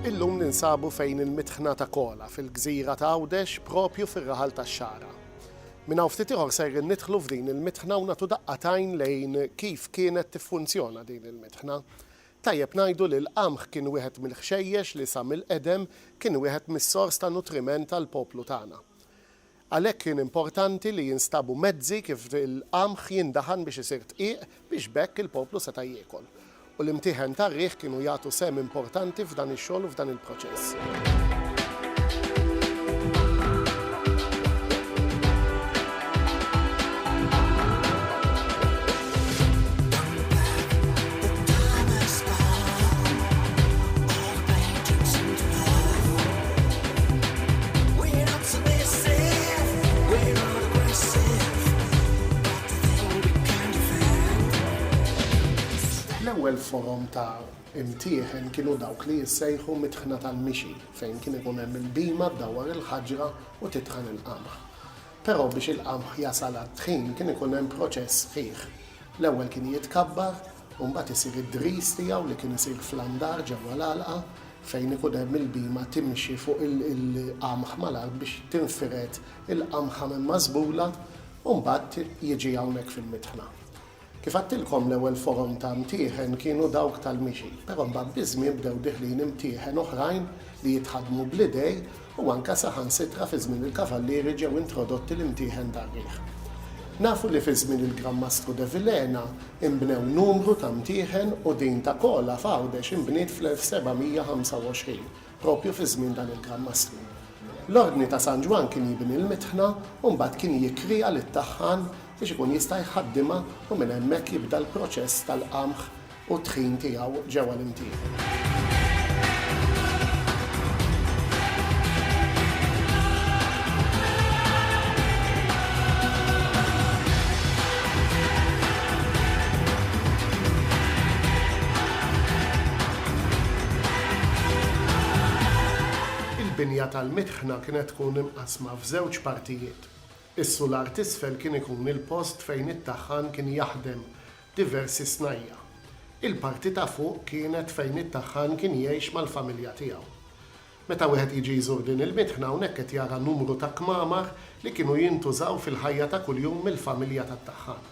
Illum ninsabu fejn il-mitħna ta' Kola fil-gżira ta' Għawdex propju fir-raħal tax-Xagħra. Minn hawn ftit ieħor sejrin nidħlu f'din il-mitħna u nagħtu daqqa t'għajn lejn kif kienet tiffunzjona din il-mitħna. Tajjeb ngħidu li l-qamħ kien wieħed mill-ħxejjex li sa mill-qedem kien wieħed mis-sors ta' nutriment għall-poplu tagħna. Għalhekk kien importanti li jinstabu mezzi kif il-qamħ jindaħan biex isir dqiq biex b'hekk il-poplu seta' jiekol. U l-imtieħen tar-riħ kienu jagħtu sehem importanti f'dan ix-xogħol u f'dan il-proċess. L-ewwel forom ta' imtieħen kienu dawk li jissejħu mitħna tal-mixi fejn kien ikun hemm il-bhima ddawwar il-ħaġra u titħan il-qamħ. Però biex il-qamħ jasal għat-tħin kien ikun hemm proċess sħiħ. L-ewwel kien jitkabbar, u mbagħad isir id-dris tiegħu li kien isir fl-andar ġewwa l-għalqa fejn ikun hemm il-bhima timxi fuq il-qamħ mal-għalq biex tinfired il-qamħa minn mażbula u mbagħad jiġi hawnhekk fil-mitħna. Kif għedtilkom l-ewwel forom ta' mtieħen kienu dawk tal-mixi, però mbagħad biż-żmien bdew diħlin imtieħen oħrajn li jitħaddmu bl-idej, u anke saħansitra fi żmien il-Kavallieri ġew introdotti l-imtieħen dar-riħ. Nafu li fi żmien il-Gran Mastru De Vilhena inbnew numru ta' mtieħen u din ta' Kola f'Għawdex inbniet fl-1725, proprju fi żmien dan il-Gran Mastru. L-Ordni ta' San Ġwann kien jibni l-mitħna u mbagħad kien jikkrea lit-taħħan biex ikun jista' jħaddimha u minn hemmhekk jibda l-proċess tal-qamħ u t-tħin tiegħu ġewwa l-imtieħen. Il-binja tal-mitħna kienet tkun imqassma f'żewġ partijiet. Is-sular t'isfel kien ikun il-post fejn it-taħħan kien jaħdem diversi snajja'. Il-parti ta' fuq kienet fejn it-taħħan kien jgħix mal-familja tiegħu. Meta wieħed jiġi jżur din il-mitħna hawnhekk qed jara numru ta' kmamar li kienu jintużaw fil-ħajja ta' kuljum mill-familja tat-taħħan.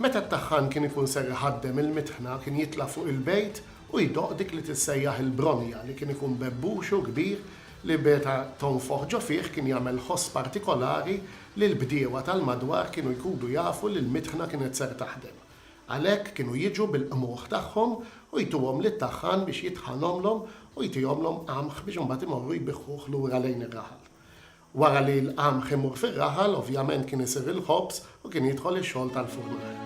Meta t-taħħan kien ikun ser iħaddem il-mitħna kien jitla' fuq il-bejt u jdoqq dik li tissejjaħ il-bronja li kien ikun bebbuxu kbir li meta tonfoħ ġo fih kien jagħmel ħoss partikolari li l-bdiewa tal-madwar kienu jkudu jafu li l-mitħna kienet ser taħdem. Għalhekk kienu jiġu bil-qmugħ tagħhom u jtuhom lit-taħħan biex jitħanhomlhom u jtihomlhom qamħ biex imbagħad imorru jbiħħuh lura lejn ir-raħal. Wara li l-qamħ imur fir-raħal, ovvjament kien isir il-ħobż u kien jidħol ix-xogħol tal-furnar.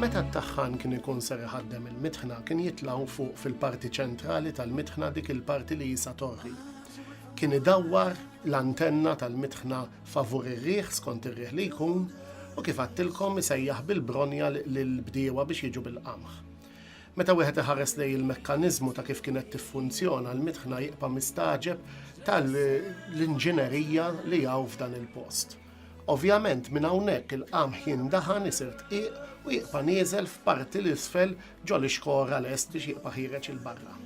Meta t-taħħan kien ikun ser iħaddem il-mitħna kien jitlaw fuq fil-parti ċentrali tal-mitħna dik il-parti li jisa torri. Kien idawwar l-antenna tal-mitħna favur ir-riħ skont ir-riħ li jkun u kif għattilkom isejjaħ bil-bronja lill-bdiewa biex jiġu bil-qamħ. Meta wieħed iħares lej il-mekkaniżmu ta' kif kienet tiffunzjona l-mitħna jiqpa' mistaġeb tal-inġinerija li hawn f'dan il-post. Ovvjament minn hawnhekk il-qamħ jindaħan isir tqiq u jiqpa' nieżel f'parti l-isfel ġol-ixkora lest biex jiqpa' ħiereġ il-barra.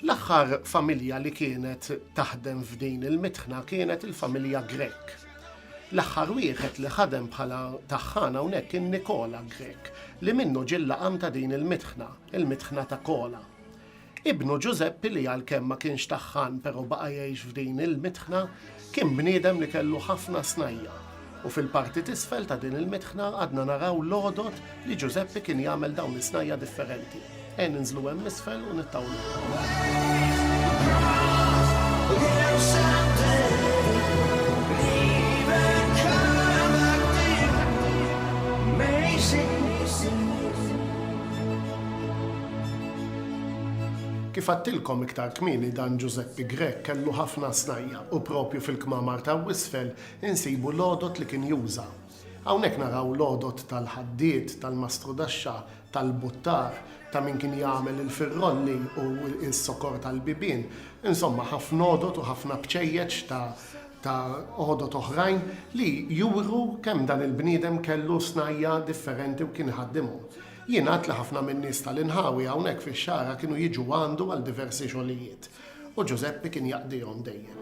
L-aħħar familja li kienet taħdem f'din il-mitħna kienet il-familja Grek. L-aħħar wieħed li ħadem bħala taħħan hawnhekk kien Nikola Grek, li minnu ġillaqam ta' din il-mitħna, il-mitħna ta' Kola. Ibnu Ġużeppi li għalkemm ma kienx taħħan però baqa' jgħix f'din il-mitħna, Kien bniedem li kellu ħafna snajja' u fil-parti t'isfel ta' din il-mitħna għadna naraw l-għodod li Ġużeppi kien jagħmel dawn is-snajja' differenti. Għen inżlu hemm isfel u nittawluhom. Kif għedtilkom iktar kmieni dan Ġużeppi Grech kellu ħafna snajja'. u proprju fil-kmamar ta' Wisfel insibu l-għodod li kien juża. Hawnhekk naraw l-għodod tal-ħaddied, tal-mastrudaxxa, tal-buttar, ta' min kien jagħmel il-firrolli u s-sokor tal-bibien, insomma ħafna għodod u ħafna bċejjeċ ta' ta' għodod oħrajn li juru kemm dan il-bniedem kellu snajja' differenti u kien iħaddimhom. Jingħad li ħafna min-nies tal-inħawi hawnhekk fix-Xagħra kienu jiġu għandu għal diversi xogħlijiet. U Ġużeppi kien jaqdihom dejjem.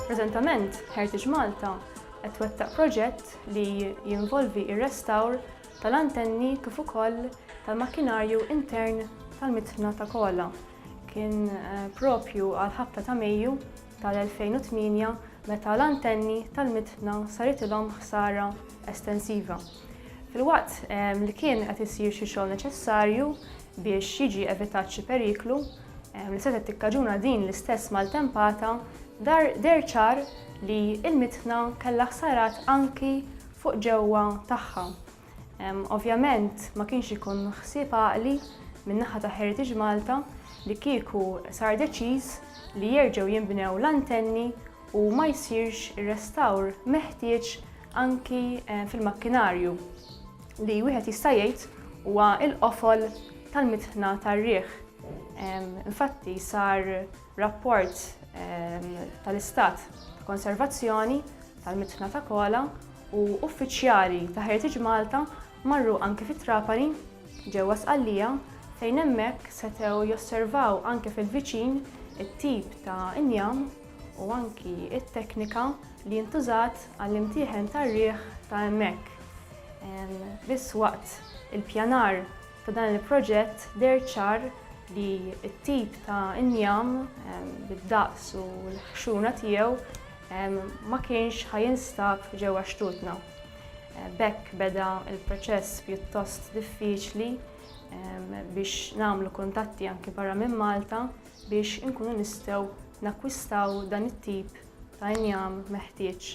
Preżentament, Heritage Malta qed twettaq proġett li jinvolvi r-restawr tal-antenni kif ukoll tal-makkinarju intern tal-mitħna ta' Kola. Kien propju għall-ħabta ta' Mejju tal-2008 meta l-antenni tal-mitna saritilhom ħsara estensiva. Filwaqt li kien qed isir xi xogħol neċessarju biex jiġi evitat xi periklu li setgħet tikkaġuna din l-istess maltempata, deher ċar li l-mitna kellha ħsarat anki fuq ġewwa tagħha. Ovvjament ma kienx ikun ħsieb għaqli min-naħa ta' Heritage Malta li kieku sar deċiż li jerġgħu jinbnew l-antenni u ma jsirx ir-restawr meħtieġ anki fil-makkinarju li wieħed jista' jgħid huwa l-qofol tal-mitħna tar-riħ. Infatti sar rapport tal-istat ta' konservazzjoni tal-mitħna ta' Kola u uffiċjali ta' Heritage Malta marru anki fi Trapani, ġewwa Sqallija, fejn hemmhekk setgħu josservaw anke fil-viċin it-tip ta' injam u anki t-teknika li ntużat għall-imtieħen tar-riħ ta' hemmhekk biss waqt il-pjanar. Ta' dan il-proġett deher ċar li t-tip ta' injam bid-daqs u l-ħxuna tiegħu ma kienx ħa jinstab ġewwa xtutna. B'hekk beda l-proċess pjuttost diffiċli biex nagħmlu kuntatti anki barra minn Malta biex inkunu nistgħu nakkwistaw dan it-tip ta' injam meħtieġ.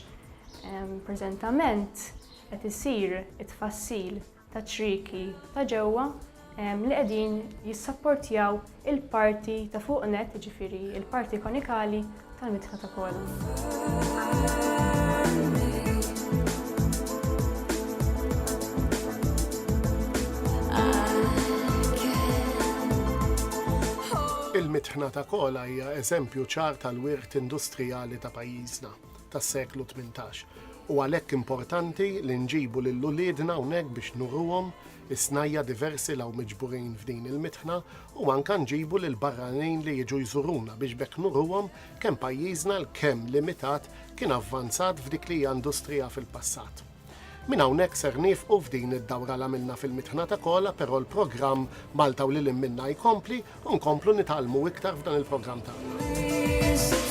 Preżentament qed isir it-tfassil taċ-ċrieki ta' ġewwa li qegħdin jissapportjaw il-parti ta' fuq nett, jiġifieri l-parti konikali tal-mitħla ta' kolon. Il-mitħna ta' kola hija eżempju ċar tal-wirt industrijali ta' pajjiżna. tas-seklu tmintax. U għalhekk importanti li nġibu lil uliedna hawnhekk biex nuruhom is-snajja' diversi li hawn miġburin f'din il-mitħna u anke nġibu lil barranin li jiġu jżuruna biex b'hekk nuruhom kemm pajjiżna l-kemm limitat kien avvanzat f'dik li hija industrija fil-passat. Minn hawnhekk ser nieqfu f'din id-dawra l-għamilna fil-mitħna ta' Kola però l-programm Malta u lil hinn minnha jkompli u nkomplu nitgħallmu iktar f'dan il-programm tagħna.